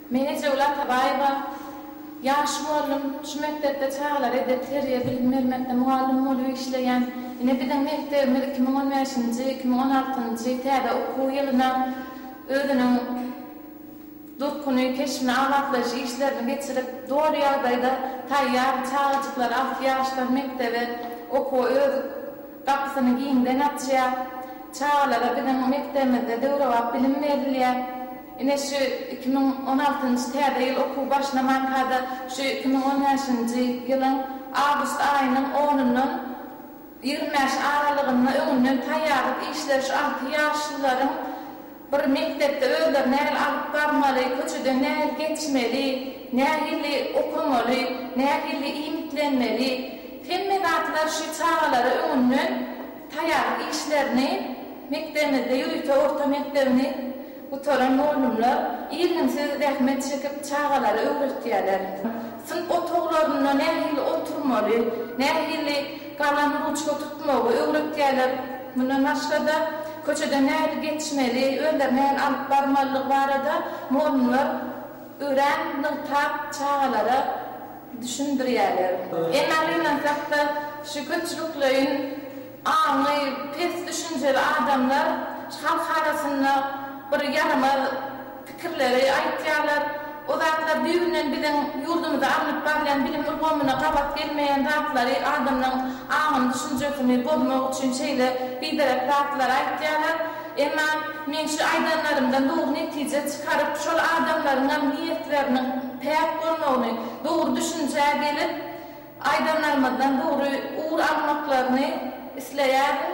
Meni Jewle Atabaýewa, Ýaş mugallym, şu mekdepde çagalara edep, terbiýe, bilim bermekde mugallym bolup işleýän. Ine, biziň mekdebimiz iki müň on bäşinji, iki müň on altynjy täze okuw ýylyna özüniň durkuny, keşbini, abatlaýyş işlerini geçirip, doly ýagdaýda taýýar, çagajyklar alty ýaşdan mekdebe, okuwa öz. Gapysyny giňden açýar. Çagalara biziň mekdebimizde döwrebap bilim berilýär. Ine, şu iki müň on altynjy täze ýyl okuw başlamanka-da, şu iki müň on bäşinji ýylyň awgust aýynyň onundan ýigrimi bäşi aralygynda öňünden taýýarlyk işleri şu alty ýaşlylaryň Bir mekdepde özleri nähili alyp barmaly, köçeden nähili geçmeli, nähili okamaly, nähili iýmitlenmeli, hemme zatlar şu çagalara öňünden taýýarlyk işlerini mekdebimizde ýörite orta mekdebini gutaran mugallymlar irginsiz zähmet çekip çagalara öwretýärler. Synp otaglarynda nähili oturmaly, nähili Galam ruçka tutmagy öwretýärler. Mundan başga-da, köçeden nähili geçmeli, özlerini nähili alyp barmalydygy barada mugallymlar örän nygtap çagalara düşündirýärler. Emma gynansak-da, şu köpçülikleýin aňy pes düşünjeli adamlar halk arasynda bir ýaramaz. pikirleri aýtýarlar. O zatlar düýbünden biziň ýurdumyzda alnyp barylýan bilim ulgamyna gabat gelmeýän zatlary, adamlaryň aňyny, düşünjesini bozmak üçin şeýle biderek zatlary aýtýarlar. Emma men şu aýdanlarymdan dogry netije çykaryp, şol adamlaryňam niýetleriniň päk bolmagyny, dogry düşünjä gelip, aýdanlarymyzdan dogry ugur almaklaryny isleýärin.